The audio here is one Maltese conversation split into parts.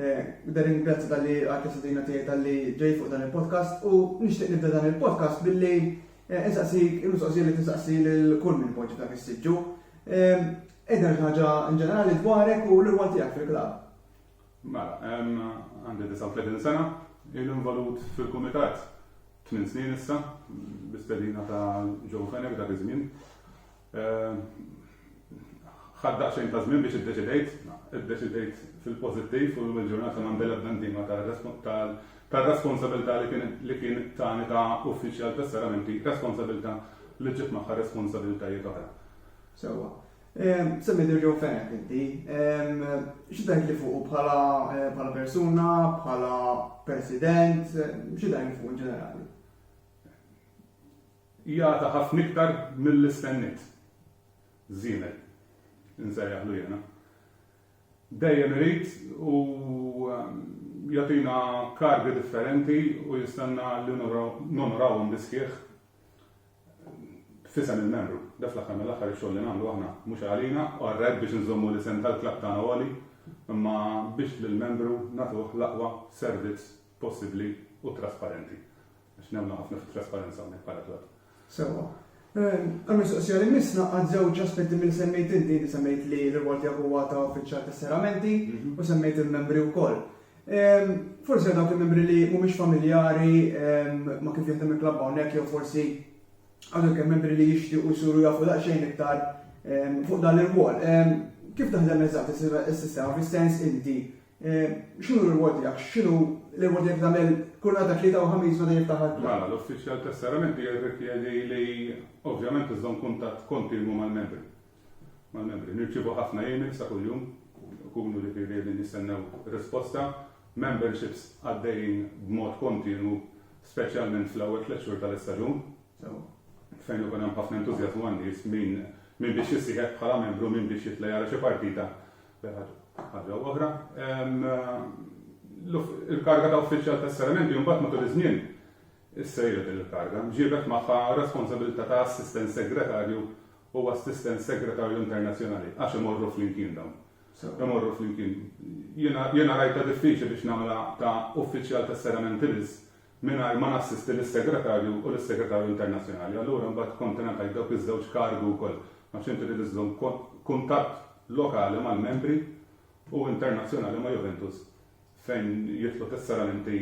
Nibda ringrazzja talli għadek sidina tiegħi talli ġej fuq dan il-podcast u nixtieq nibda dan il-podcast billi eh, insaqsik il-mistoqsija li tinsaqsi lil kull minn poġġi dak is-siġġu. Eh, Ejda ħaġa in ġenerali dwarek u l-irwol tiegħek fil-klab. Mela, għandi 39 sena, il-involut fil-kumitat 8 snin issa, bistedina ta' Joe Fenech dak iż-żmien. Ħadt daqsxejn ta' żmien biex iddeċidejt. Iddeċidejt fil-pożittiv u llum il-ġurnata m'għandi l-ebda ndima tar-responsabilità li kien tani ta' uffiċjal tas-seramenti, responsabilità li ġġib magħha responsabilitajiet oħra. Sewwa. Semmejt il-Joe Fenech inti. Xi tgħidli fuqu bħala persuna, bħala President, xi tgħidli fuqu in ġenerali? Jata ħafna iktar milli stennejt. Żiemel. Insejjaħlu jiena. Dejjem irid u jagħtina kargi differenti u jistenna li nonorawhom bis-sħiħ f'isem il-membru. Da fl-aħħar mill-aħħar ix-xogħol li nagħmlu aħna mhux għalina u għar-rep biex inżommu l-isem tal-klabb tagħna għoli imma biex lill-membru nagħtuh l-aqwa servizz possibbli u trasparenti. Għax nemmnu ħafna fit-trasparenza hawnhekk bħala klab. Sewwa. Għall-mistoqsija li jmiss ngħaqqad żewġ aspetti milli semmejt inti. Inti semmejt li r-rwol tiegħek huwa ta' uffiċjal tas-serramenti u semmejt il-membri wkoll. Forsi għal dawk il-membri li mhumiex familjari ma' kif jaħdem il-klabb hawnhekk jew forsi għal dawk il-membri li jixtiequ jsuru jafu daqsxejn iktar fuq dan l-irwol. Kif taħdem eżatt is-sistema fis-sens inti X'inhu l-irwol tiegħek? X'inhu l-irwol tiegħek tagħmel kull nhar ta' Tlieta u Ħamis meta jiftaħ il-club? Mela, l-uffiċjal tas-serramenti jirrikjedi li ovvjament iżżomm kuntatt kontinwu mal-membri. Mal-membri. Nirċievu ħafna emails ta' kuljum, ikunu ġifieri qegħdin jistennew risposta. Memberships għaddejjin b'mod kontinwu, speċjalment fl-ewwel tliet xhur tal-istaġun. Sewwa. Fejn ikun hemm ħafna entużjażmu għan-nies, min biex jissieħeb bħala membru, min biex jitla' jara xi partita Ħaġa oħra, il-karga ta' uffiċjal ta' saramenti mbagħad matul iż-żmien issejret din il-karga, ġiebet magħha responsabilità ta' assistent segretarju u assistent segretarju internazzjonali għax imorru flimkien dawn. Imorru flimkien. Jiena rajtha diffiċli biex nagħmilha ta' uffiċjal ta' saramenti biss mingħajr ma nassisti lis-Segretarju u lis-Segretarju Internazzjonali. Allura mbagħad kont ingħatajt dawk iż-żewġ kargi wkoll għax inti trid iżżomm kuntatt lokali mal-membri u internazzjonali ma' Juventus fejn jidħlu tesseramenti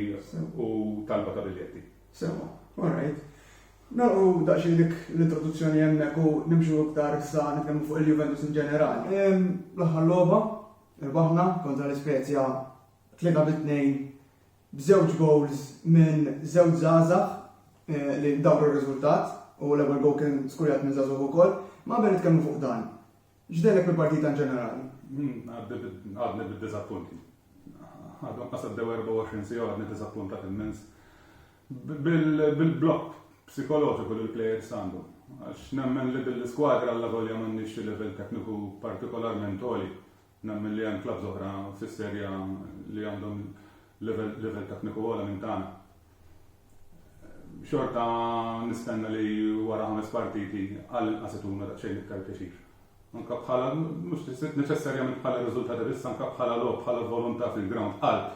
u talba ta' biljetti. Sewwa. All right. Nagħlqu daqsxejn dik l-introduzzjoni hemmhekk u nimxu iktar issa nitkellmu fuq il-Juventus in ġenerali. L-aħħar logħba rbaħna kontra l-Ispezia tlieta bi tnejn B'żewġ gowls minn żewġ żgħażagħ li dawru r-riżultat u l-ewwel gowl kien skurjat minn żagħżugħ ukoll, ma qabel nitkellmu fuq dan, x'dehnek mill-partita inġenerali? Għadni bid-diżappunti. Għadhom qas għaddew 24 siegħa u għadni diżappuntat immens bil-blokk psikoloġiku li l-plejers għandhom. Għax nemmen li din l-iskwadra allavolja m'għandhiex xi livell tekniku partikolarment għoli, Nemmen li hemm klabbs oħra fis-Serie A li għandhom livell tekniku ogħla minn tagħna. Xorta nistenna li wara ħames partiti għal inqas ituna daqsxejn iktar pjaċir. Anka bħala mhux neċessarjament bħala riżultati biss anka bħala logħob bħala volontà fil-ground qalb.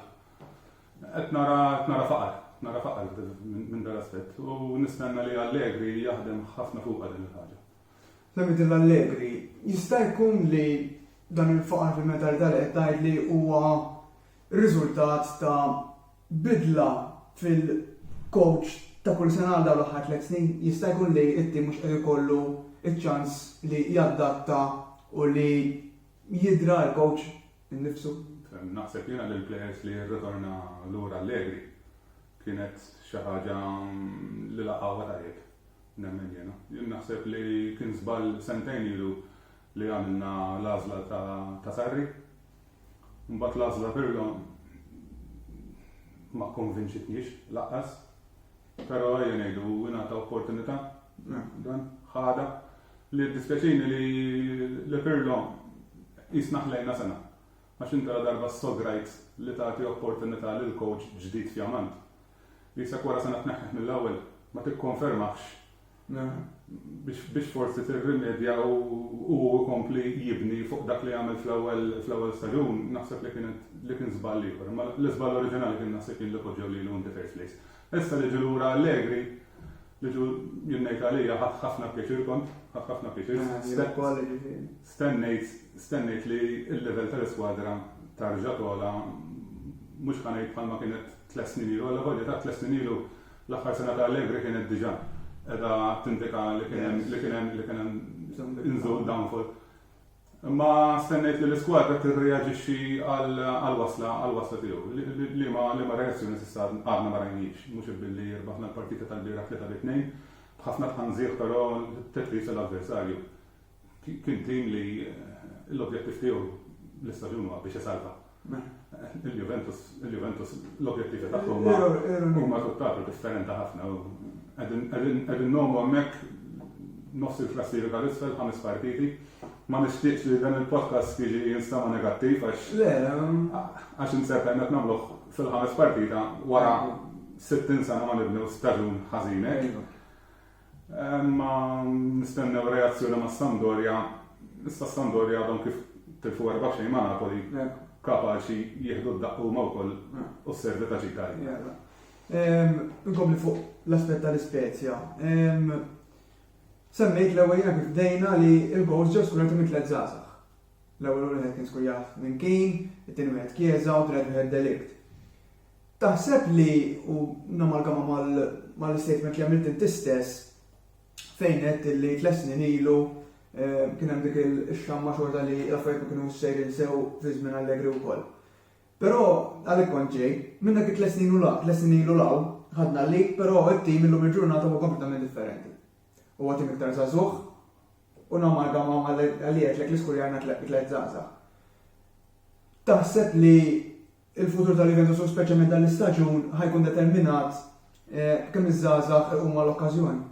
Qed nara qed nara faqar, nara faqar minn dal-aspett u nistenna li Allegri jaħdem ħafna fuqha din il-ħaġa. Lamidilla Allegri, Jista' jkun li dan il-faqar fil-mentalità li qed tgħidli huwa r-riżultat ta' bidla fil-kowċ ta' kull sena għal dawn l-aħħar tliet snin? Jista' jkun li t-tim mhux qed ikollu ċ-ċans li jadatta u li jidra l-kowċ innifsu? Naħseb jiena li l-plejers li jirritorna lura Allegri kienet xi ħaġa li laqgħuha tajjeb. nemmen jiena. Jien naħseb li kien żball sentejn ilu li għamilna l-għażla ta' Sarri. Mbagħad l-għażla Pirlo ma konvinċitniex laqqas. Però ejja ngħidu ingħata opportunità dan ħada li dispjaċini li Pirlo jisnaħlejna sena. Għax inti la darba ssograjt li tagħti opportunità lil kowċ ġdid fjamant. Qisek wara sena tneħħih mill-ewwel, ma tikkonfermahx biex forsi tirrimedja u hu jkompli jibni fuq dak li għamel fl-ewwel staġun, naħseb li kienet li kien żball ieħor. Imma l-iżball oriġinali kien naħseb jien li poġġew lilu in the first place. Issa li ġie lura Allegri, li ġu jien ngħid għalija ħadt ħafna pjaċir kont, ħadt ħafna pjaċir. Jien ukoll jiġifieri. Stennejt, stennejt li l-level tal-iskwadra tarġa' togħla, mhux ħa ngħid bħalma kienet tliet snin ilu, allavolja ta' tliet snin ilu l-aħħar sena ta' Allegri kienet diġà qiegħda tindika li kien hemm li kien hemm li kien hemm inżul downfall. Imma stennejt li l-iskwadra tirreaġixxi għall-wasla għall-wasla tiegħu. Liema liema reazzjoni s'issa għadna ma rajnix, mhux billi rbaħna l-partita tal-bieraħ tlieta bi tnejn, b'ħafna tħanżiegħ però tedqis lill-avversarju. Kien tim li l-objettiv tiegħu l-istaġun huwa biex isalva. Il-Juventus, il-Juventus l-objettivi tagħhom huma huma tutt'altro differenti ħafna u qegħdin qegħdin qegħdin ngħomu hemmhekk nofs il-klassifika l-isfel ħames partiti. Ma nixtieqx li dan il-podcast jiġi jinstema' negattiv għax għax insert għajna qed nagħmluh fil-ħames partita wara 60 sena ma nibnew staġun ħażin hekk. Imma nistennew reazzjoni ma' Sampdoria, issa Sampdoria għadhom kif tilfu erba' b'xejn ma' Napoli, kapaċi jieħdu d-daqq huma wkoll u s-serve ta' Ġika jgħid. Inkompli fuq l-aspett tal-Ispezja. Semmejt l-ewwel jiena kif bdejna li l-gowls ġew skurati minn tliet żgħażagħ. L-ewwel wieħed kien żgur jaf minn kien, it-tieni wieħed Chiesa u t-tielet wieħed De Ligt. Taħseb li, u namalgama mal-istatement li għamilt inti stess, fejn għedt li tliet snin ilu kien hemm dik ix-xamma xorta li l-affarijiet ma kinux sejrin sew fi żmien Allegri wkoll. Però għalhekk kont ġej, minn dak it-tliet snin u l-hawn, tliet snin ilu l-hawn, ħadna l-lead, però t-tim illum il-ġurnata huwa kompletament differenti. Huwa tim iktar żagħżugħ u namalgama mal-li għedtlek li skurjajna tliet żgħażagħ. Taħseb li Il-futur ta' Juventus u speċjalment dan l-istaġun ħa jkun determinat b'kemm iż-żgħażagħ iqumu għall-okkażjoni.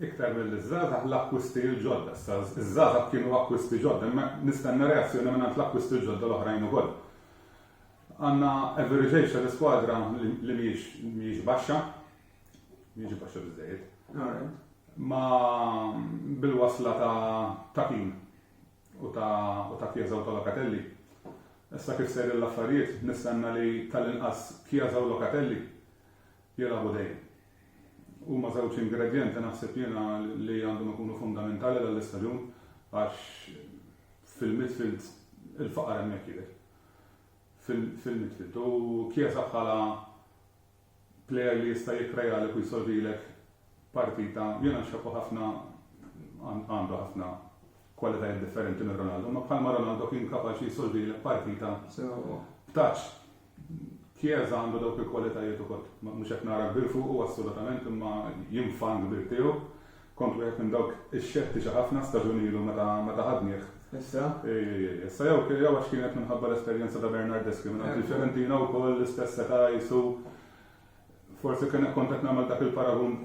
Iktar milli ż-żgħażagħ l-akkwisti l-ġodda. Issa ż-żgħażagħ kienu akkwisti ġodda imma nistenna reazzjoni mingħand l-akkwisti l-ġodda l-oħrajn ukoll. Għandna average age tal-iskwadra li mhijiex baxxa, mhijiex baxxa biżżejjed. Ma bil-wasla ta' Kean. u ta' u ta' Chiesa u ta' Locatelli. Issa kif sejrin l-affarijiet, nistenna li tal-inqas Chiesa u Locatelli jilagħbu dejjem. Huma żewġ ingredjenti naħseb jiena li għandhom ikunu fundamentali dan l-istaġun għax fil-midfield il-faqar hemmhekk jidher. Fil-midfield. U Chiesa bħala Plejer li jista' jikkrejalek u jsolvilek partita, jiena nxebhu ħafna, għandu ħafna kwalitajiet differenti minn Ronaldo, imma bħalma Ronaldo kien kapaċi jsolvilek partita b'touch. Chiesa għandu dawk il-kwalitajiet ukoll. Mhux qed nara kbir fuqu assolutament imma jien fan kbir tiegħu. Kont wieħed minn dawk ix-xettiċi ħafna staġun ilu meta meta ħadnih. Issa? Ej ej ej, issa jew jew għax kienet minħabba l-esperjenza ta' Bernardeschi mingħand il-Fiorentina wkoll l-istess età qisu forsi kien kont qed nagħmel dak il-paragun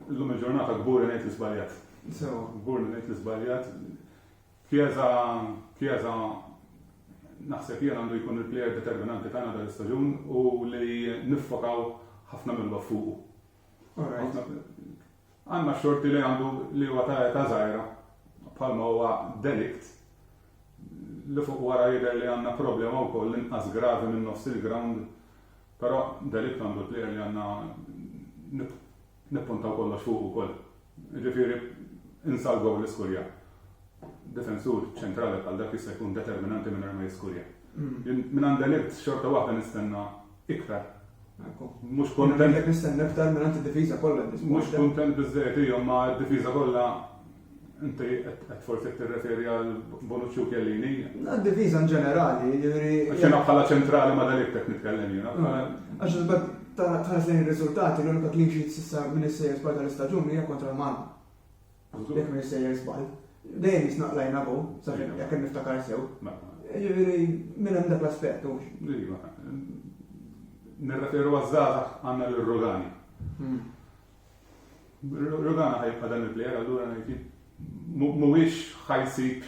llum il-ġurnata kburi ngħid li żbaljat. Sewwa. Kburi ngħid li żbaljat. Chiesa Chiesa naħseb jien għandu jkun il-plejer determinanti tagħna dal-istaġun u li niffokaw ħafna mill-logħob fuqu. All right. Għandna xorti li għandu li huwa ta' età żgħira, bħalma huwa delikt, li fuq wara jidher li għandna problema wkoll inqas gravi minn nofs il-grawnd, però delikt għandu l-plejer li għandna nippuntaw kollox fuqu wkoll. Jiġifieri insa l-gowl li skurja. Difensur ċentrali bħal dak jista' jkun determinanti mingħajr ma jiskurja. Jien mingħand delikt xorta waħda nistenna. Iktar. Mhux kontent. Qed nistenna iktar minn id-difiża kollha. Mhux kontent biżżejjed hija ma' d-difiża kollha inti qed forsi tirreferi għal Bonucci u Chiellini. Għad-difiża in ġenerali, jiġifieri. Għax jiena bħala ċentrali ma' De Ligt qed nitkellem jiena. Għax iżda tħares lejn ir-riżultati, l-unika clean sheet s'issa minn is-sejjes barra tal-istaġun hija kontra l-Malta. Jekk m'iniex sejjer żball, dejjem jisna qlajna go, sakemm jekk niftakar sew. Jiġifieri minn hemm dak l-aspett hux. Iva. Nirreferu għaż-żgħażagħ għandna lil Rogani. Hmm. Rogana ħajibqa' dan il-plejer allura ngħid mhuwiex ħajsib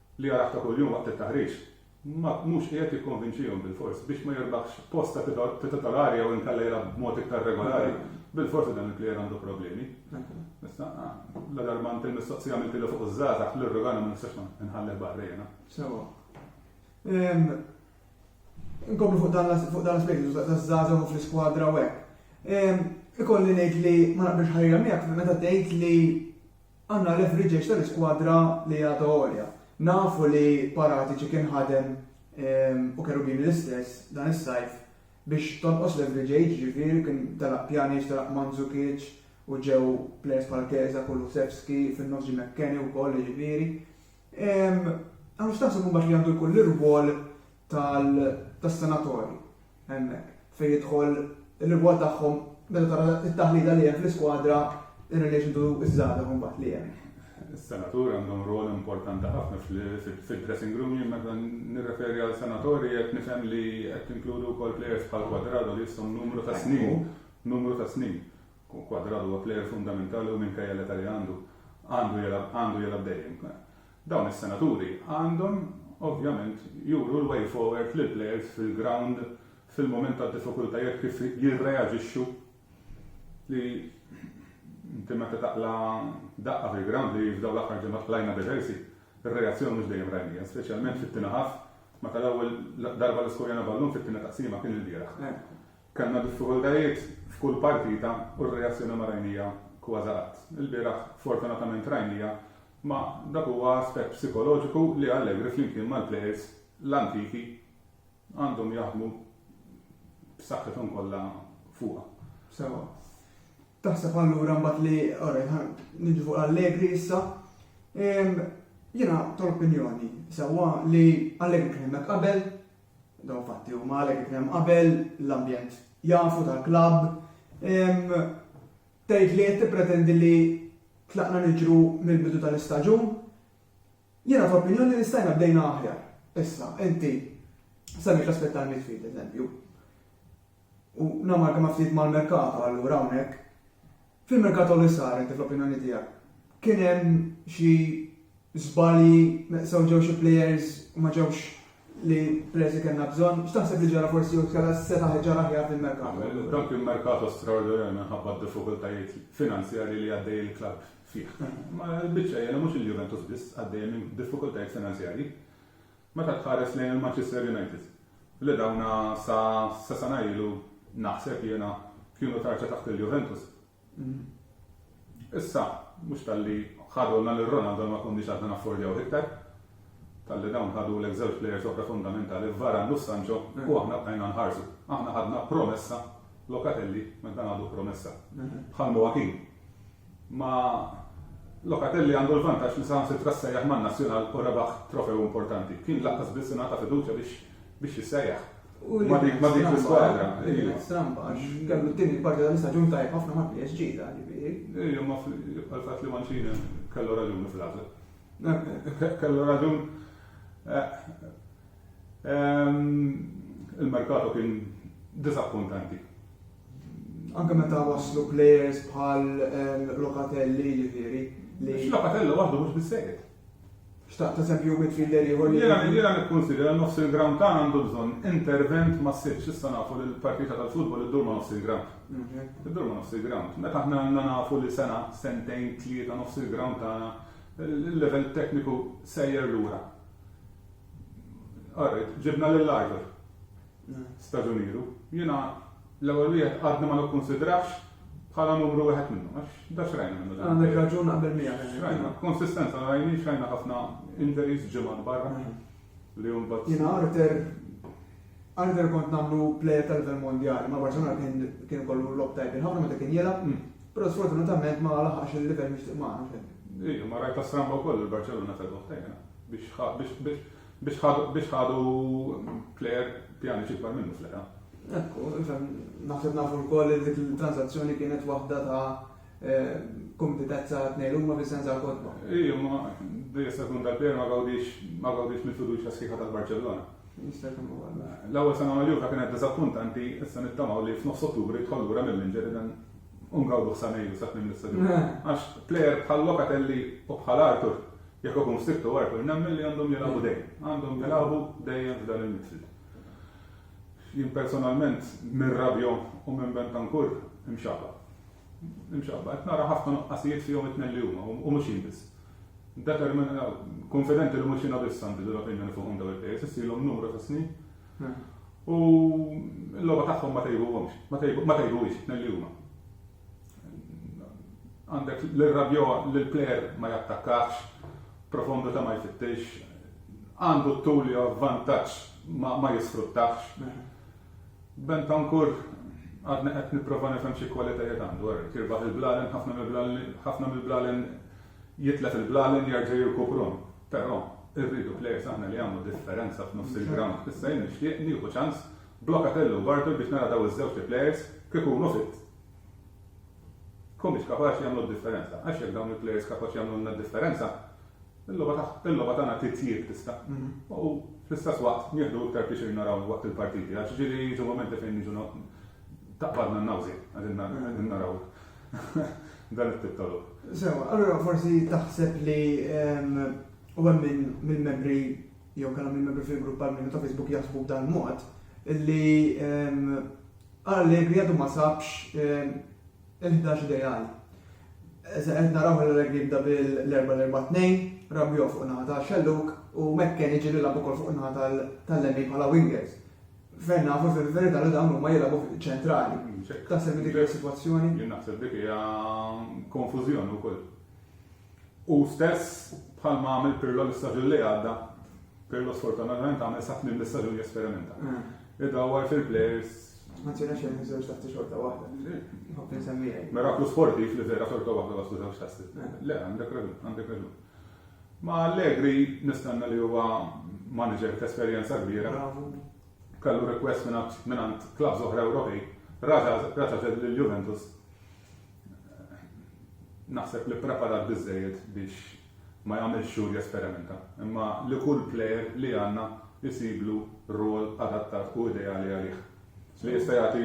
li jarah ta' kuljum waqt it-taħriġ, ma mhux qiegħed jikkonvinċihom bilfors biex ma jirbaħx post ta' titolari jew inkella jilgħab b'mod iktar regolari, bilfors li dan il-plejer għandu problemi. Issa, ladarba għamilt il-mistoqsija għamiltilha fuq iż-żgħażagħ, l-irrogana ma nistax ma nħallih barra jiena. Sewa. Inkomplu fuq dan l-aspett taż-żgħażagħ u fl-iskwadra u hekk. Ikolli ngħid li ma naqbilx ħajja miegħek meta tgħid li Għandna l-averages tal-iskwadra li għadha għolja. Nafu li Paratici kien ħadem, u Cherubini l-istess, dan is-sajf biex tonqos l-average age, jiġifieri kien telaq Pjanic, telaq Mandzukic u ġew plejers bħal Chiesa, Kulusevski, fin-nofs ġie McKennie wkoll, jiġifieri. Hawn x'taħseb imbagħad li għandu jkun l-irwol tas-senatorji hemmhekk fejn jidħol ir-rigward tagħhom meta tara t-taħlita li hemm fl-iskwadra in relation to ż-żgħażagħ imbagħad li hemm. Is-senaturi għandhom rwol importanti ħafna fid-dressing room, jien meta nirreferi għal senatorji qed nifhem li qed tinkludu wkoll players bħal Quadrado li jisthom numru ta' snin, numru ta' snin. Quadrado huwa player fundamentali u minkejja l-età li għandu għandu jilgħab dejjem. Dawn is-senaturi għandhom ovvjament juru l-way forward lill-plejers fil-grawnd fil-mument tad-diffikultajiet kif jirreaġixxu li inti meta taqla' daqqa fil-grawnd li f'dawn l-aħħar ġimgħat qlajna diversi, ir-reazzjoni mhux dejjem rajnija, speċjalment fit-tieni half meta l-ewwel darba li skurjajna ballun fit-tieni taqsima kien ilbieraħ. Kellna diffikultajiet f'kull partita u r-reazzjoni ma rajnija kważi qatt. Ilbieraħ fortunatament rajnija Ma dak huwa aspett psikoloġiku li Allegri flimkien mal-plejers l-antiki għandhom jaħdmu b'saħħithom kollha fuqha. Sewwa. Taħseb allura mbagħad li alright ħa niġu fuq Allegri issa. Jiena tal-opinjoni sewwa li Allegri kien hemmhekk qabel, dawn fatti huma Allegri kien hemm qabel, l-ambjent jafu tal-klabb. Tgħid li qed tippretendi li tlaqna niġru mill-bidu tal-istaġun? Jiena fl-opinjoni li stajna bdejna aħjar. Issa, inti semmejt l-aspett tal-midfield, eżempju. U namalgama ftit mal-merkato allura hawnhekk. Fil-merkato li sar inti fl-opinjoni tiegħek kien hemm xi Żbalji, sew ġew xi plejers u ma ġewx l-plejers li kellna bżonn. X'taħseb li ġara forsi jew tkella setaħ ġara aħjar dil-merkato? Dan kien merkato straordinarju minħabba d-diffikultajiet finanzjarji li għaddej il-klabb fih. Imma l-biċċa hi li mhux il-Juventus biss għaddejja minn diffikultajiet finanzjarji. Meta tħares lejn il-Manchester United, li dawna sa sena ilu naħseb jiena kienu tarċa taħt il-Juventus, Issa, mhux talli ħadulna lil Ronaldo ma konniex għadna naffordjawh iktar, talli dawn ħadulek żewġ plejers oħra fundamentali f'Varane u f'Sancho u aħna bqajna nħarsu. Aħna ħadna promessa, Locatelli, ma dan għadu promessa. Bħal Moakin. Ma Locatelli għandu l-vantaġġ li saħansitra ssejjaħ man-Nazzjonal u rebaħ trofew importanti. Kien lanqas biss ingħata fiduċja biex biex jissejjaħ. U ma dik ma dik il-barra. Trump għax kellu t-tieni parti tal-istaġun tajb ħafna ma' PSG ta' ġifieri. Ejja ma fil-fatt li Mancini kellu raġun fl-għażel. Kellu raġun il-merkato kien disappuntanti. Anke meta waslu players bħal Locatelli ġifieri. Locatelli waħdu mhux bissejjed. Xtaqt eżempju midfielder ieħor li. Jiena jiena nikkunsidra li nofs il-ground tagħna għandu bżonn intervent massiv. S'issa nafu li l-partita tal-futbol iddur ma' nofs il-ground. Iddur ma' nofs il-ground. Meta aħna għandna nafu li sena, sentejn, tlieta nofs il-ground tagħna l-level tekniku sejjer lura. All right, ġibna lil Arthur. staġuniru. Jiena l-ewwel wieħed għadni ma nikkunsidrahx bħala numru wieħed minnhom għax da xrajna minnu. Għandek raġun naqbel miegħek. Xrajna, konsistenza rajni xrajna ħafna injuries ġimgħat barra li hum bat. Jiena Arthur Arthur kont nagħmlu plejer tal-level mondjali, ma Barcelona kien kien kollu lob tajbin ħafna meta kien jilgħab, mm. però sfortunatament ma laħax il-level mixtieq magħna fejn. Ija, ma rajta stramba wkoll il-Barcelona tal-boħtajna biex Biex ħadu Claire Pjanic ikbar minnu fl-età. Ekku, naħseb nafu wkoll li dik il-transazzjoni kienet waħda ta' eh, kompetezza tnejn huma Vincenza Kodba. Iju, ma dejja sekund tal-Pier ma gawdix ma gawdix mill-fiduċja sħiħa tal-Barċellona. L-ewwel sena ma' Juve kienet diżappuntanti, issa nittamaw li f'nofs Ottubru jidħol lura mill-inġeri dan ungawdu ħsanejju sa tmiem l-istaġun. Eh. Għax plejer bħal Locatelli u bħal Arthur Jekk ikun f'sitt u għarfu nemmen li għandhom jilagħbu dejjem. Għandhom jilagħbu dejjem f'dan il-midfield. Jien personalment minn Rabio u minn Bentancur imxabba. Imxabba, qed nara ħafna nuqqasijiet fihom it-tnejn li huma u mhux jien biss. Determin, konfidenti li mhux jiena biss għandi l-opinjoni fuqhom daw il-pejjeż, issilhom numru ta' snin. Hmm. U l-logħba tagħhom ma tejbuhomx, ma tejbuhiex it-tnejn li huma. Għandek l-irrabja li l-plejer ma jattakkax, profondità ma jfittix, għandu t-tul li huwa vantaġġ ma jisfruttahx. Bentancur għadni qed nipprova nifhem xi kwalitajiet għandu, ara, jirbaħ il-blalen, ħafna mill-blalen jitlef il-blalen jerġa' jirkupruhom. Però irridu plejers aħna li jagħmlu differenza f'nofs il-grawnd. Issa jien nixtieq nieħu ċans Blokatelli u Bartol biex nara daw iż-żewġt il-players k'ikunu fit humiex kapaċi jagħmlu d-differenza. Għax jekk dawn il-players kapaċi jagħmlulna d-differenza, il-logħba tagħna titjieb tista'. U fl-istess waqt nieħdu iktar pjaċir narawhom waqt il-partiti għax ġieli jiġu mumenti fejn jiġu taqbadna n-nawżien qegħdin naraw dan it-tip ta' logħob. Sewwa, allura forsi taħseb li u hemm mill-membri jew kellhom min membri fil-grupp għal minu ta' Facebook jaħsbu b'dan mod, li ehm, Allegri għadu ma sabx ehm, il-11 ideali. Qed naraw l-Allegri jibda bil-4-4-2, Rabio fuq naħa ta' Xelluk u Mekken iġi li labu kol fuq naħa tal-lemmi bħala wingers. Fejn nafu fil-verità li dawn huma jilabu ċentrali. Ta' servi dik il-situazzjoni? Jien naħseb dik hija konfużjoni wkoll. Hu stess, bħalma għamel Pirlo l-istaġun li għadda, Pirlo sfortunatament għamel sa tmiem l-istaġun jesperimenta. Idawwar fil-plejers. Ma tirna xejn żewġ tasti xorta waħda. Nħobb insemmijek. Miraklu sportiv li vera xorta waħda waslu żewġ tasti. Le, għandek raġun, għandek raġun. Ma Allegri nistanna li huwa manager ta' esperjenza kbira. Kallu request minn għand klabs oħra Ewropej. Raġa ġed lil Juventus. Naħseb li ppreparat biżżejjed biex ma jagħmilx xogħol jesperimenta, imma li kull plejer li għandna jsiblu rwol adattat u ideali għalih. Li jista' jagħti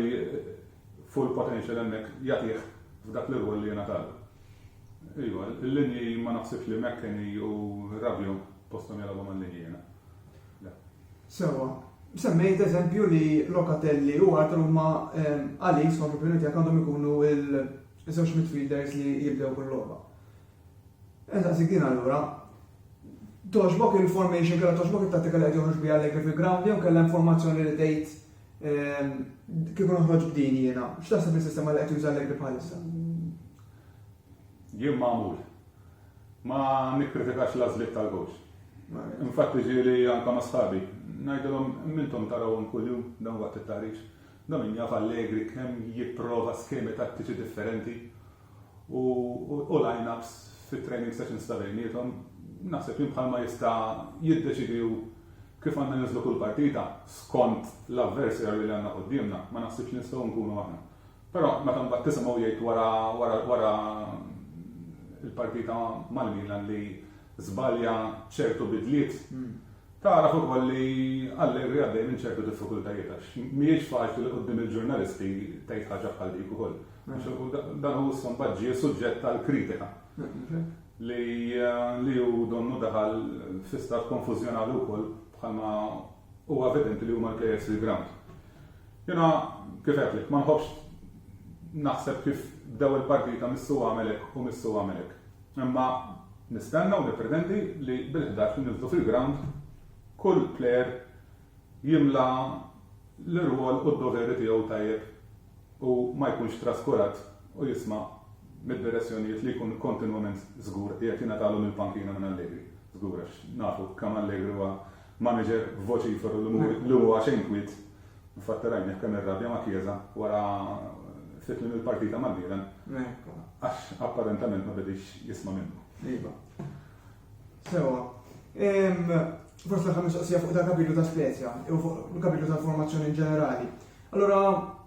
full potential hemmhekk jagħtih f'dak l-irwol li jingħatalu. Iva, il-linji ma naħsibx li McKennie u Rabiot posthom jilagħbu mal-linji jiena. Sewwa, semmejt eżempju li Locatelli u Arthur huma għalik skont l-opinjoni tiegħek għandhom ikunu l-żewġ midfielders li jibdew kull logħba. Insaqsik din allura, toġbok il-formation kellha toġbok it-tattika li qed joħroġ biha Allegri fil-ground jew kellha informazzjoni li tgħid kieku noħroġ b'din jiena. X'taħseb is-sistema li qed juża Allegri bħalissa? Jien magħmul. Ma nikkritikax l-għażliet tal-kowċ. Infatti ġieli anke ma' sħabi. Ngħidilhom imma intom tarawhom kuljum dawn waqt it-taħriġ. Da min jaf Allegri kemm jipprova skemi tattiċi differenti u line-ups fit-training sessions ta' bejniethom. Naħseb jien bħalma jista' jiddeċiedi hu kif għandna ninżlu kull partita skont l-avversary li għandna quddiemna, ma naħsibx li nistgħu nkunu aħna. Però meta mbagħad tisimgħu jgħid wara wara wara l-partita mal-Milan li żbalja ċertu bidliet, tagħraf ukoll li Allegri għaddej minn ċertu diffikultajiet għax mhijiex faċli li quddiem il-ġurnalisti tgħid ħaġa bħal dik ukoll. Dan hu issa mbagħad ġie suġġett għal kritika li li hu donnu daħal fi stat konfużjonali wkoll bħalma huwa evidenti li huma l-players fil-ground. Jiena, kif għedtlek, ma nħobbx naħseb kif bdew il-partita missu għamel hekk u missu għamel hekk. Imma nistenna u nippretendi li bil-ħdax li niżlu fil-grawnd kull plejer jimla l-irwol u d-doveri tiegħu tajjeb u ma jkunx traskurat u jisma' mid-direzzjonijiet li jkun kontinwament żgur qiegħed jingħatalu mill-pankina minn Allegri. Żgur għax nafu kemm Allegri huwa Manager, Vociferu li huwa xejn kwiet, Infatti rajni jekk hemm ir-rabja ma' Chiesa wara ftit minn il-partita mal-Milan għax apparentament ma bediex jisma' minnu. Iva. Sewwa. Forsi l-aħħar mistoqsija fuq dal-kapitlu ta' Spezia jew fuq il-kapitlu tal-formazzjoni inġenerali. Allura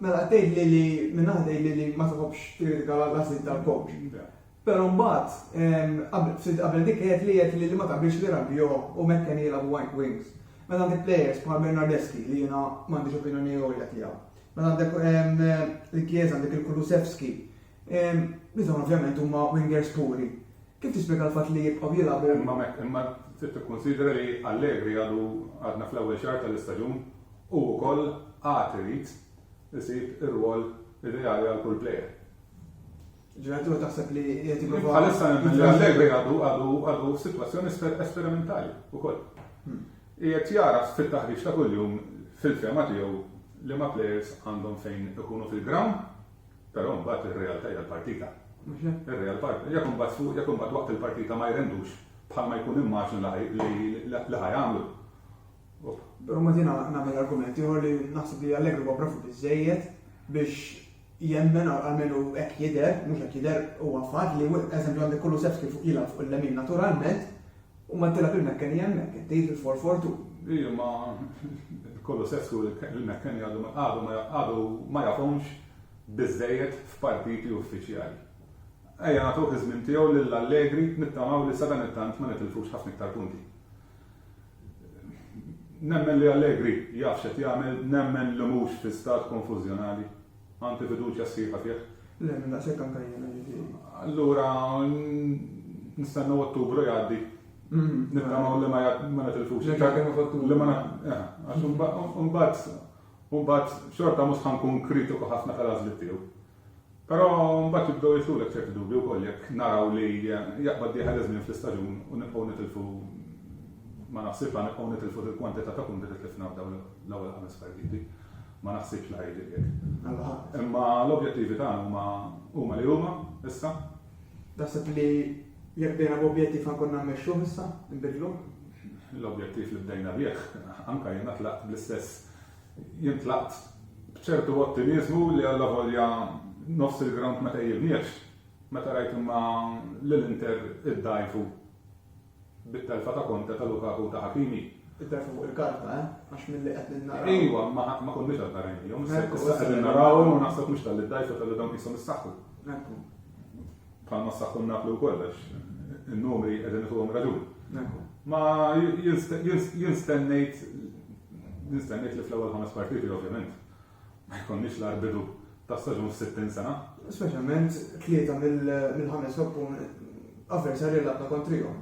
mela qed tgħidli li minn naħa tgħidli li ma tħobbx tikkritika l-għażliet tal-coach. Però mbagħad, ftit qabel dik għedt li għedt li ma taqbilx li Rabiot u McKennie jilagħbu wide wings. Meta għandek players bħal Bernardeschi li jiena m'għandix opinjoni għolja tiegħu. Meta għandek lil Chiesa għandek lil Kulusevski li dawn ovvjament huma wingers puri. Kif tispjega l-fatt li jibqgħu jilagħbu? Imma trid tikkunsidra li Allegri għadu għadna fl-ewwel xahar tal-istaġun u wkoll għad irid isib ir-rwol ideali għal kull player. Ġeneratur taħseb li qed jipprova. Bħalissa nemmen li Allegri għadu għadu għadu f'sitwazzjoni esperimentali wkoll. Hmm. Qiegħed jara fit-taħriġ ta' kuljum fil-fema tiegħu li ma' players għandhom fejn ikunu fil-ground, però mbagħad ir-realtà hija l-partita. Ir-real partita, jekk imbagħad fuq, jekk imbagħad waqt il-partita ma jrendux bħalma jkun immaġin li ħajamlu. Però ma jiena nagħmel argument ieħor li naħseb li Allegri huwa bravu biżżejjed biex jemmen, almenu hekk jidher, mhux hekk jidher, huwa fatt li eżempju għandek Kulusevski fuq jilgħab fuq il-lemin naturalment u ma tilgħab il-Mekkeni hemmhekk, inti fil-4-4-2. Iva, ma Kulusevski u l-Mekkeni għadhom għadu ma għadu ma jafhomx biżżejjed f'partiti uffiċjali. Ejja nagħtuh iż-żmien tiegħu lil Allegri nittamaw li sadanittant ma nitilfux ħafna iktar punti. Nemmen li Allegri jaf x'qed jagħmel, nemmen li mhux fi stat konfużjonali. Għandi fiduċja sħiħa fih. Nemmen daqshekk anke jiena, ġifieri. Allura nistennew Ottubru jgħaddi. Nittamaw li ma nitilfux. Nerġa' nkellmu f'Ottubru. Għax imbagħad, imbagħad xorta mhux ħa nkun kritiku ħafna tal-għażliet tiegħu. Però mbagħad jibdew jidħlulek ċerti dubji wkoll jekk naraw li jaqbad dieħel iż-żmien fl-istaġun u nibqgħu nitilfu ma naħsibx li nibqgħu nitilfu dil-kwantità ta' punti li tlifna f'dawn l-ewwel ħames partiti. Ma naħsibx li ħa jiġri hekk. Imma l-objettivi tagħna huma li huma issa. Taħseb li jekk bdejna b'objettiv ħa nkunna mmexxuh issa, inbiddluh? L-objettiv li bdejna bih, anke jiena tlaqt bl-istess Jien tlaqt b'ċertu ottimiżmu li allavolja nofs il-grawnd ma tgħejjibniex, meta rajt imma lil Inter iddgħajfu bit-telfa ta' Conte, ta' Lukaku u ta' Hakimi. It-telfa fuq il-karta, eh? Għax milli qed ninnaraw. Ejwa, imma ma konniex għadna rajniehom. Issa qegħdin narawhom u naħseb mhux talli ddgħajfu talli dawn qishom issaħħu. Ekku. Bħalma sa kun naf li wkoll għax in-numri qegħdin ituhom raġun. Ma jien stennejt nistennejt li fl-ewwel ħames partiti ovvjament ma jkollniex l bidu ta' staġun f'60 sena. Speċjalment tlieta mill-ħames oppun avversarji li għandna kontrihom.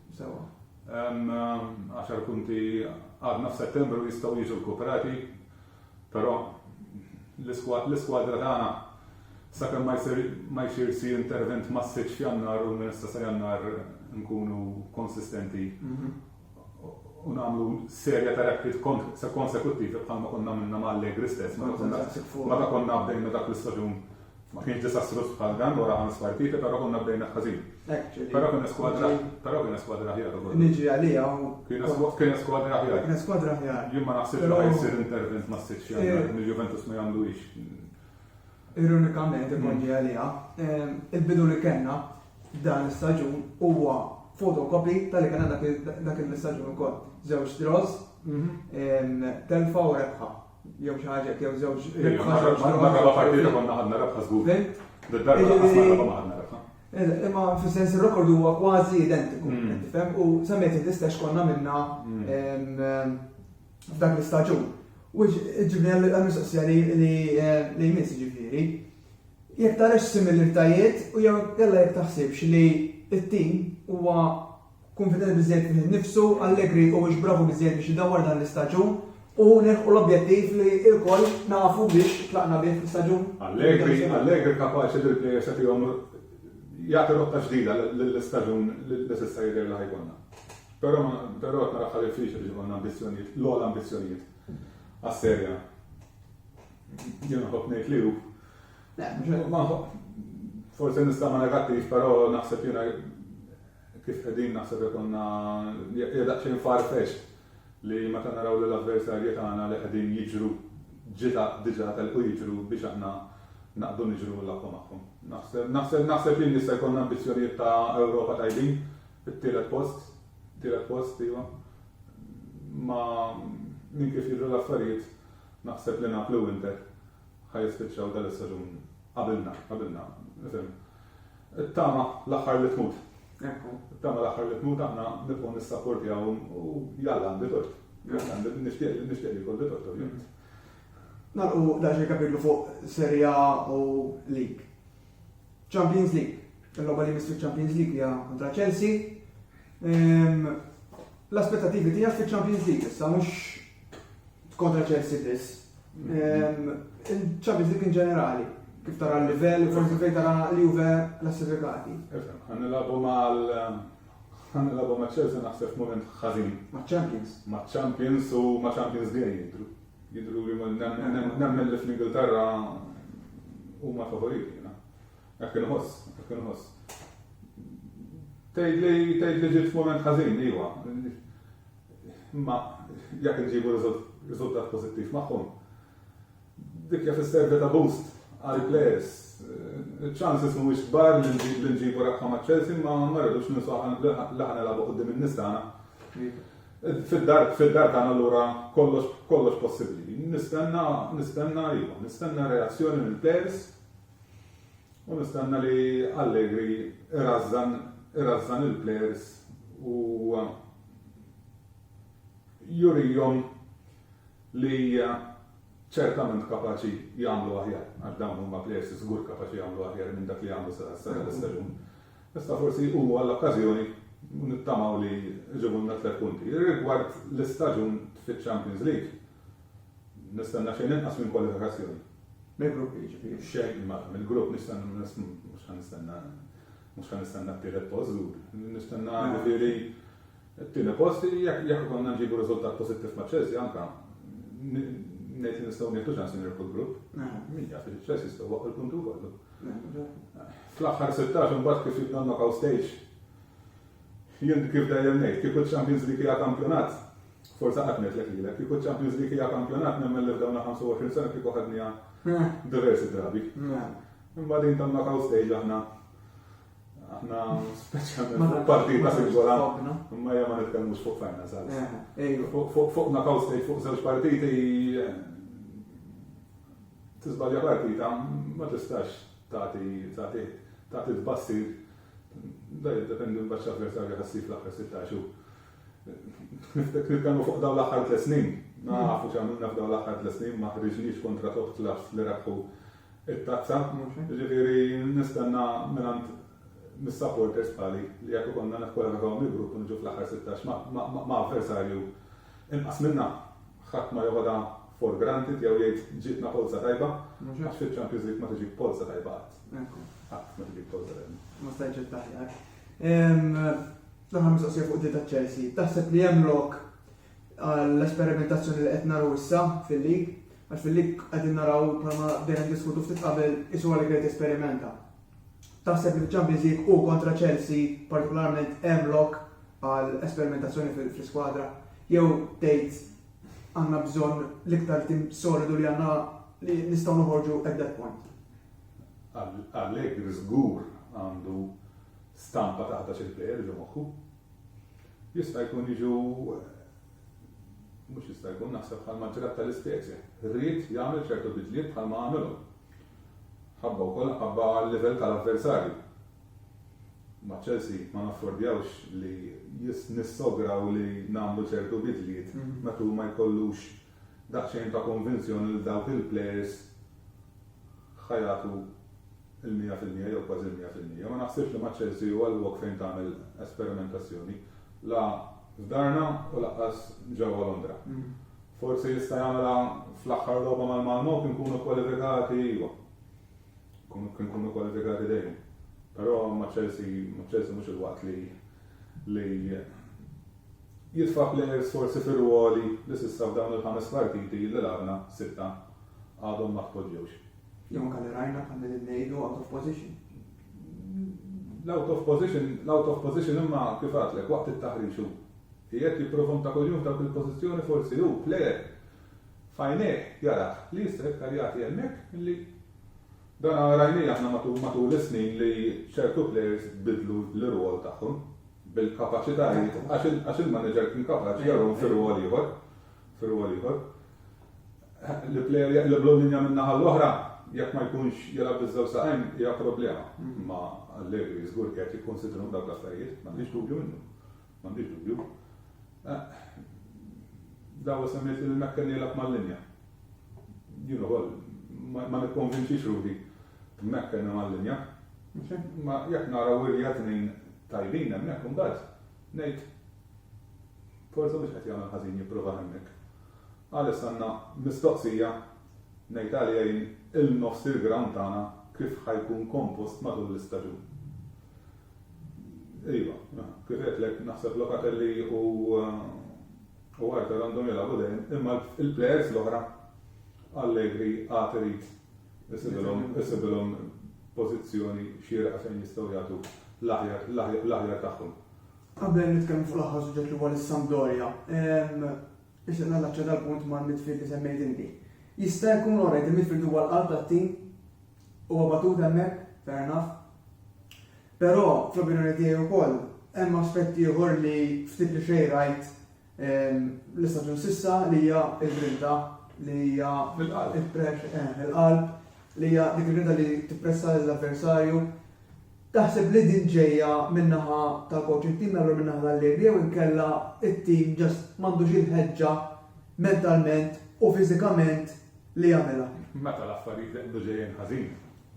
Sewa. Hemm għaxar punti għadna f'Settembru jistgħu jiġu rkuprati, però l-iskwadra tagħna sakemm ma jsir ma jsir xi intervent massiċċ f'Jannar u minn issa sa Jannar nkunu konsistenti u nagħmlu serja ta' rekrit konsekuttivi bħalma konna minna ma' Allegri stess, meta konna bdejna dak l-istaġun Ma kienx disastruż bħal dan wara ħames partiti però konna bdejna ħażin. Però kiena skwadra però kiena skwadra aħjar ukoll. Niġri għaliha u Kiena skwadra aħjar. Kiena skwadra aħjar. Jien ma naħsibx li ħajsir intervent mas-sitt xahar mill-Juventus ma jagħmlu hix. Ironikament imordi għaliha, il-bidu li kellna dan l-istaġun huwa fotokopi tal-li kellna dak l-istaġun ukoll. Żewġ draws, telfa u rebħa. jew xi ħaġa hekk jew żewġ rebħa żewġ draws. Imma r-raba' partita konna ħadna rebħa żgur. Fimt? Darba lanqas ma r-raba' ma ħadna rebħa. Imma fis-sens ir-rekord huwa kważi identiku, qed tifhem? U semmejt int l-istess konna minna f'dak l-istaġun. U ġibni għall-mistoqsija li jmiss ġifieri. Jekk tarax similiritajiet u jew jalla jekk taħsibx li t-tim huwa Kunfidenti biżżejjed fih innifsu, Allegri huwiex bravu biżżejjed biex idawwar dan l-istaġun u nilħqu l-objettiv li lkoll nafu biex tlaqna bih fl-istaġun internazzjonali. Allegri kapaċi li l-plejers li fihom jagħti rotta ġdida lill-istaġun li s'issa jidher li ħa jkollna. Però qed naraha diffiċli biex ikollna ambizzjonijiet, l-ogħla ambizzjonijiet għas-Serie A. Jien nħobb ngħid li hu. Le, mhux hekk. Forsi nistama' negattiv, però naħseb jiena. Kif qegħdin naħseb jkollna hija daqsxejn far-fetched li meta naraw li l-avversarji tagħna li qegħdin jiġru ġita diġà telqu jiġru biex aħna naqbdu niġru l-aqwa magħhom. Naħseb naħseb naħseb li jmiss se jkollna ambizzjonijiet ta' Ewropa tajbin, it-tielet post, tielet post, iva. Ma' minn kif jidhru l-affarijiet naħseb li Napli u Inter ħa jispiċċaw dan is-saġun qabilna, qabilna, nifhem. It-tama l-aħħar li tmut. It-tama l-aħħar li tmut aħna nibqgħu nissapportjaw u jalla għandi tort. Għandi nixtieq li nixtieq li jkolli tort ovvjament. Nagħlqu daġi kapitlu fuq Serja u Lig. Champions League. Il-logħba li jmiss fil-Champions League hija kontra Chelsea. Ehm, l-aspettativi tiegħek fil-Champions League issa mhux kontra Chelsea biss. Ehm, Il-Champions League in ġenerali, kif tara l-livell, forsi fejn tara li juve klassifikati. Għan nilabu mal għan nilabu ma' Chelsea naħseb moment ħażin. Ma' Champions. Ma' Champions u ma' Champions League jidru. Jidhru li nemmen li fl-Ingilterra huma l-favoriti. Hekk inħoss, hekk inħoss. Tgħidli tgħidli ġiet f'mument ħażin, iva. Imma jekk inġibu riżultat pożittiv magħhom. Dik jaf is-serve ta' boost għal players. Chances mhuwiex kbar li nġibu rebħa ma' Chelsea ma ma rridux ninsaw li ħana labu qudiem in-nies tagħna. Fid-dar fid-dar tagħna allura kollox kollox possibbli. Nistenna nistenna iva, nistenna reazzjoni mill-plejers u nistenna li Allegri irażżan irażżan il-plejers u jurihom li ċertament kapaċi jagħmlu aħjar għax dawn huma plejers żgur kapaċi jagħmlu aħjar minn dak li għamlu sa dan l-istaġun. Issa forsi hu għall-okkażjoni u nittamaw li jġibulna tliet punti. Rigward l-istaġun fiċ-Champions League, nistenna xejn inqas minn kwalifikazzjoni. Mill-gruppi jiġifieri? Xejn, mela, mill-grupp nistenna, mhux ħa nistenna, mhux ħa nistenna t-tielet post żgur. Nistenna jiġifieri t-tieni post, jekk ikollna nġibu riżultat pożittiv ma' Chelsea anke, ngħid li nistgħu nieħdu ċans li nirbħu l-grupp. Min jaf, Chelsea jistgħu jwaqqgħu l-punti wkoll. Fl-aħħar 16 imbagħad kif jitnonnokaw stage. Jien kif dejjem ngħid, kieku ċ-Champions League hija kampjonat, forsa qatt ngħidlek lilek, kieku ċ-Champions League hija kampjonat nemmen li f'dawn 25 sena kieku ħadniha eh. diversi drabi. Eh. Imma din tan-knockout stage aħna aħna speċjalment partita singola, imma hija ma nitkellmux fuq fajna sal. Eh, fuq knockout stage fuq żewġ partiti Tiżbalja partita ma tistax tagħti tagħti tagħti tbassir dan jiddependi mbagħad x'avversarju ħa ssib fl-aħħar 16 xhur. Niftek nitkellmu fuq dawn l-aħħar tliet snin. Nafu x'għamilna f'dawn l-aħħar tliet snin ma ħriġniex kontra top clubs li rebħu it-tazza. Ġifieri nistenna mingħand mis-supporters bħali li jekk ikollna nikkwalifikaw mill-grupp u niġu fl-aħħar 16 ma' avversarju inqas minna. Ħadd ma joħodha for granted jew jgħid ġietna polza tajba, għax fiċ-Champions League ma tiġik polza tajba qatt. Qatt ma tiġik polza tajba. Ma stajtx ittaħjar. L-aħħar mistoqsija fuq ta' Chelsea. Taħseb li hemm lok għall-esperimentazzjoni li qed naraw issa fil-lig, għax fil-lig qegħdin naraw bħalma dejjem diskutu ftit qabel isu għal esperimenta. Taħseb li f'Champions League u kontra Chelsea partikolarment hemm lok għal esperimentazzjoni fl-iskwadra jew tgħid għandna bżonn l-iktar tim solidu li għandna li nistgħu noħorġu at that point? Allegri żgur għandu stampa ta' ħdax il-plejer ġo moħħu. Jista' jkun jiġu mhux jista' jkun naħseb bħal maġġorat tal-ispecie. Rrid jagħmel ċertu bidliet bħal ma għamilhom. Ħabba wkoll nħabba għal-livell tal-avversarju. Ma' Chelsea ma naffordjawx li nissograw li nagħmlu ċertu bidliet meta hu ma jkollux daqsxejn ta' konvinzjoni li dawk il-plejers ħa jagħtu l-mija fil-mija jew kważi l-mija fil-mija. Ma naħsibx li ma' Chelsea huwa l-lok fejn tagħmel esperimentazzjoni, la f'darna u lanqas ġewwa Londra. Forsi jista' jagħmilha fl-aħħar logħba mal-Malmö kien nkunu kwalifikati iva. Kien nkunu kwalifikati dejjem. Però ma' Chelsea, ma' Chelsea mhux il-waqt li li jitfa' players forsi fir-ruoli li s'issa f'dawn il-ħames partiti li lagħabna sitta għadhom ma tpoġġewx. Jew anke li rajna bħal qegħdin ngħidu out of position. L-out of position, l-out of position imma kif għadtlek waqt it-taħriġ hu. Qiegħed jipprova mta' kuljum f'dawk il-pożizzjoni forsi hu, plejer, f'għajnejh jarah li jista' iktar jagħti hemmhekk milli. Dan rajnieh aħna matul is-snin li ċertu plejers biddlu l-irwol tagħhom bil-kapaċitajiet għax il-manager kien kapaċi jarahom fi rwol ieħor, fi rwol ieħor. Li plejer jaqleb l-linja min-naħa l-oħra jekk ma jkunx jilgħab biż-żewġ saqajn hija problema. Imma Allegri żgur qiegħed jikkunsidrahom dawk l-affarijiet, m'għandix dubju minnu. M'għandix dubju. Dawa semmejt li Mekkel jilgħab mal-linja. Jien ukoll ma nikkonvinċix ruħi b'Mekkel minn mal-linja. Ma jekk nara wirja tnejn tajbin hemmhekk imbagħad ngħid forsi mhux qed jagħmel ħażin jipprova hemmhekk. Għalissa għandna mistoqsija ngħid għaliha jien il-nofs il-ground tagħna kif ħa jkun kompost matul l-istaġun. Iva, kif għedtlek naħseb Locatelli u u Arthur għandhom jilagħbu dejjem, imma l-plejers l-oħra Allegri għad irid isibilhom isibilhom pożizzjoni xierqa fejn jistgħu jagħtu l-aħjar l-aħjar tagħhom. Qabel nitkellmu fuq l-aħħar suġġett li huwa lis-Sampdoria, Nixtieq nallaċċa dal-punt mal-midfield li semmejt inti. Jista' jkun alright il-midfield huwa l-qalb tat-tim, huwa batut hemmhekk, fair enough. Però fl-opinjoni tiegħi wkoll hemm aspett ieħor li ftit li xejn rajt l-istaġun s'issa li hija l-grinta li hija il-qalb li hija dik il-grinta li tippressa lill-avversarju. Taħseb li din ġejja min-naħa tal-kowċ it-tim jagħmlu min-naħa tal-liri jew inkella t-tim ġast m'għandux il-ħeġġa mentalment u fiżikament li jagħmilha? Meta l-affarijiet iqbdu ġejjin ħażin,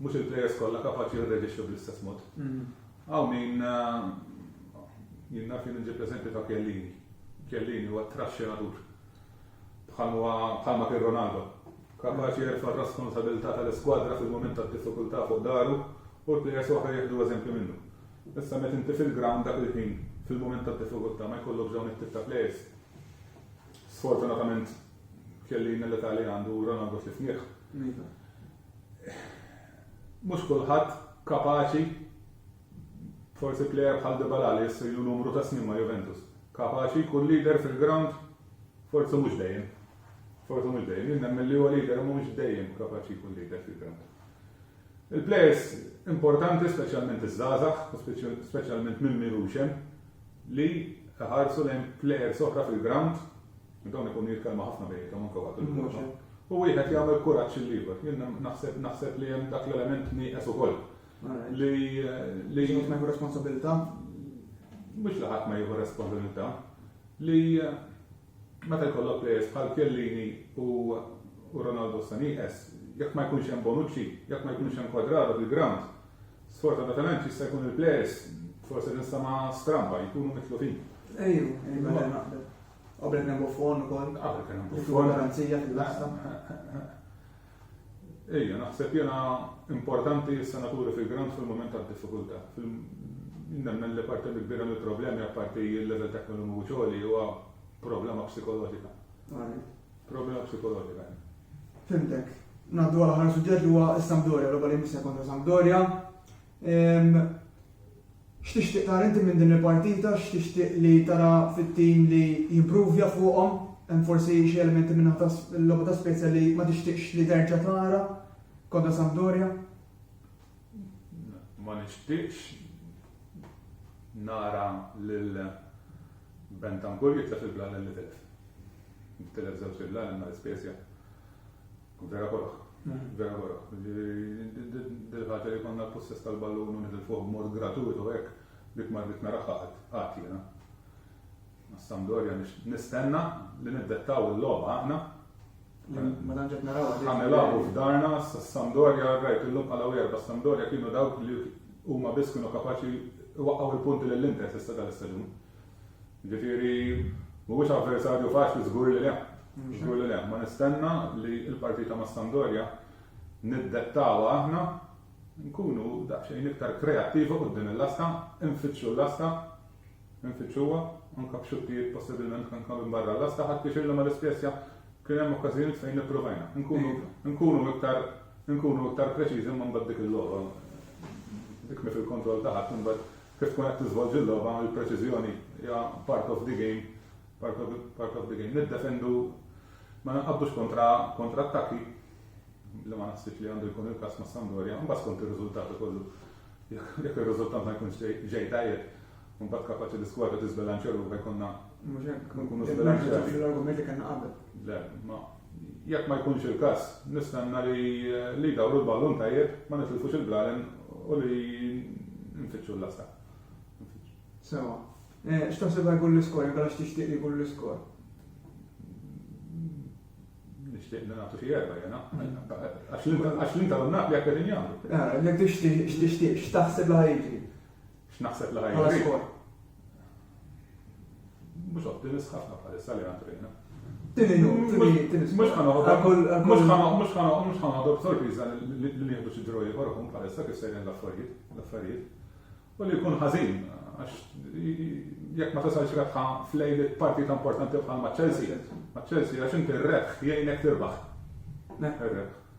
mhux il-plejers kollha kapaċi jirreġixxu bl-istess mod. Hawn min jien naf jien inġib l-eżempju ta' Chiellini. Chiellini huwa t-traxxinatur. bħalma bħalma kien Ronaldo, kapaċi jerfa' r-rasponsabilità tal-iskwadra fil-mument tad-diffikultà fuq dahru u l-plejers l-oħra jieħdu eżempju minnu. Issa meta inti fil-grawnd dak il-ħin fil-mument tad-diffikultà ma jkollokx dawn it-tip ta' plejers, sfortunatament Chiellini l-età li għandu u Ronaldo f'tifnieh, mhux kulħadd kapaċi Forsi plejer bħal Dybala li issa ilu numru ta' snin ma' Juventus, kapaċi jkun leader fil-grawnd? Forsi mhux dejjem. Forsi mhux dejjem. Jien nemmen li huwa leader imma mhux dejjem kapaċi jkun leader fil-grawnd. Il-plejers importanti, speċjalment iż-żgħażagħ u speċjalment minn min hux hemm, li iħarsu lejn plejers oħra fil-grawnd, dawn ikunu jitkellmu ħafna bejniethom anke waqt il-logħba, u wieħed jagħmel kuraġġ lill-ieħor. Jien naħseb li hemm dak l-element nieqes ukoll Li li jieħu ma jieħu responsabilità? Mhux li ħadd ma jieħu responsabilità. Li meta jkollok plejers bħal Kellini u Ronaldo Saniqes, jekk ma jkunx hemm Bonucci, jekk ma jkunx hemm Quadrado fil-ground, sfortunatament jista' jkun il-plejers forsi nistama stramba jkunu mitlufin. Ejju, ejju, mela naqbel. Qabel kien hemm Buffon ukoll. Qabel kien hemm Buffon. Garanzija fil-lasta. Ejja, naħseb jena importanti s-senaturi fil-ground fil-moment ta' diffikulta. Nemmen li parti mill-kbira mill-problemi apparti il-level ta' kmenu muċoli huwa problema psikoloġika. Problema psikoloġika. Fimtek. Naddu għal ħar suġġett li huwa s-Sampdoria, roba li missa kontra Sampdoria. X'tixtieq tara inti minn din il-partita? X'tixtieq li tara fit-tim li jimpruvja fuqhom? Hemm forsi xi elementi minn naħa tal-logħba ta' Spezia li ma tixtieqx li terġa' tara kontra Sampdoria? Ma nixtieqx nara lil Bentancur jitlef il-blalel li tilef. Tilef żewġt il-blalel ma' l-Spezia. Vera korok. Vera korok. Dil-ħaġa li konna l-possess tal-ballun u nħil fuq mod gratuitu hekk dik ma dik naraħħa qatt jiena. Sampdoria nistenna li niddettaw il-logħba aħna. Ma tantx qed naraw. Ħanilagħbu f'darna Sampdoria rajt illum bħala wieħed bas Sampdoria kienu dawk li huma biss kienu kapaċi waqgħu l-punti lill-Inter fis-seta l-istaġun. Jiġifieri mhuwiex avversarju faċli żgur li le. Żgur li le. Ma nistenna li l-partita ma' Sampdoria niddettawha aħna, nkunu daqsxejn iktar kreattivi quddiem il-lasta, infittxu l-lasta, infittxuha, anke b'xuttijiet possibilment anke minn barra l-lasta, ħadt pjaċir li ma' Li Spezia kien hemm okkażjonijiet fejn ippruvajna. Nkunu iktar nkunu iktar preċiżi imma mbagħad dik il-logħba, dik mhi fil-kontroll ta' ħadd imbagħad Kif tkun qed tiżvolġi l-logħba, il-preċiżjoni hija part of the game, part of, part of the game. Niddefendu, ma ninqabdux kontra, kontra attakki, li ma naħsibx li għandu jkun il-każ ma' Sampdoria, mbagħad skont ir-riżultat ukoll. Jekk jekk ir-riżultat ma jkunx ġej- ġej tajjeb, mbagħad kapaċi l-iskwadra tiżbilanċja ruħha jkollna Mhux hekk. Nkunu Nerġa' żbilanċjati. fl-argument li kellna qabel. Le, ma Jekk ma jkunx il-każ, nistenna li li jdawru l-ballun tajjeb, ma nitilfux il-blalen u li nfittxu l-lasta. Sewwa. X'taħseb li jkun l-iskor, inkella x'tixtieq li jkun l-iskor? Nixtieq li nagħtu xi erbgħa jiena. Għax l-Inter u n-Napli hekk qegħdin jagħmlu. Jekk tixtieq, x'tixtieq, x'taħseb li ħa jiġri? X'naħseb li ħa jiġri? Bħala skor. Mhux ottimist ħafna bħalissa li għandrina. Tini nu, tini Mhux ħanoħdu b'sorpriża li nieħdu xi ġroj ieħor ikun bħalissa kif sejrin l-affarijiet, l-affarijiet. U li jkun ħażin għax jekk ma tasalx rebħa flejli partita importanti bħal ma' Chelsea, ma' Chelsea għax inti r-rebħ jgħinek tirbaħ. Rebħ.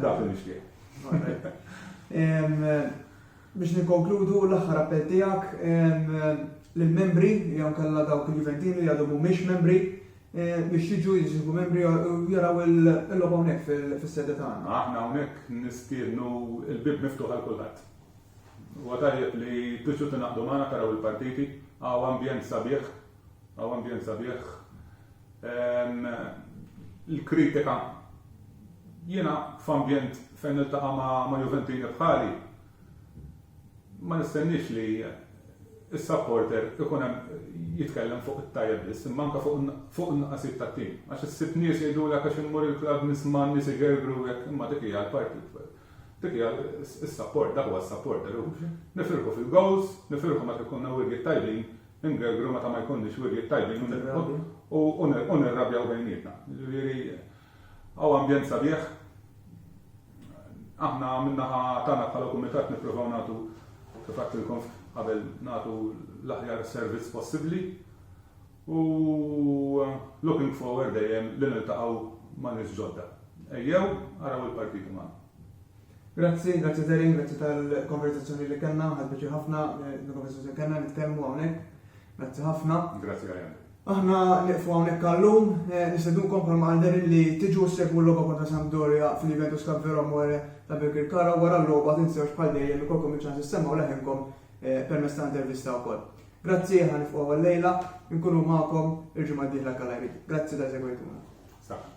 Dak li nixtieq. Biex nikkonkludu l-aħħar appell tiegħek lill-membri jew nkella dawk il-Juventini li għadhom mhumiex membri eh, biex jiġu jiġu membri jaraw il-logħba hawnhekk fis-sede tagħna. Aħna hawnhekk nistiednu l-bib miftuħ għal kulħadd. Huwa tajjeb li tiġu tingħaqdu magħna taraw il-partiti, għaw ambjent sabiħ Għaw ambjent sabiħ. Il-kritika jiena f'ambjent fejn niltaqa' ma' Juventini bħali ma nistenniex li is-supporter ikun hemm jitkellem fuq it-tajjeb biss, imma anke fuq in-nuqqasijiet tat-tim. Għax issib nies jgħidulek għax immur il-klabb nisma' n-nies igergru hekk, imma dik hija l-parti dik hija s-support, dak huwa s-supporter. Nifirħu fil-goals, nifirħu meta jkollna wirjiet tajbin, Ingergru meta ma jkollniex wirjiet tajbin u nirrabjaw bejnietna. Jiġifieri hawn ambjent sabiħ. Aħna min-naħa tagħna bħala kumitat nippruvaw nagħtu, kif għedtilkom qabel, nagħtu l-aħjar servizz possibbli u looking forward dejjem li niltaqgħu ma' nies ġodda. Ejjew araw il-partiti magħna. Grazzi, grazzi Darien, grazzi tal-konverzazzjoni li kellna, ħadt biċi ħafna l-konverzazzjoni kellna nitkellmu hawnhekk. Grazzi ħafna. Grazzi Ryan. Aħna niqfu hawnhekk għallum, eh, nistedunkom bħalma għal Darien li tiġu segwu l-logħba kontra Sampdoria fil-Juventus Cup Vero More ta' Birkirkara wara l-logħba tinsewx bħal dejjem ikolkom il-ċans issemgħu leħinkom eh, permezz ta' intervista wkoll. Grazzi ħan nifqgħu għal-lejla, nkunu magħkom il-ġimgħa d-dieħla kalajri. Grazzi ta' segwejtuna. Saħħa.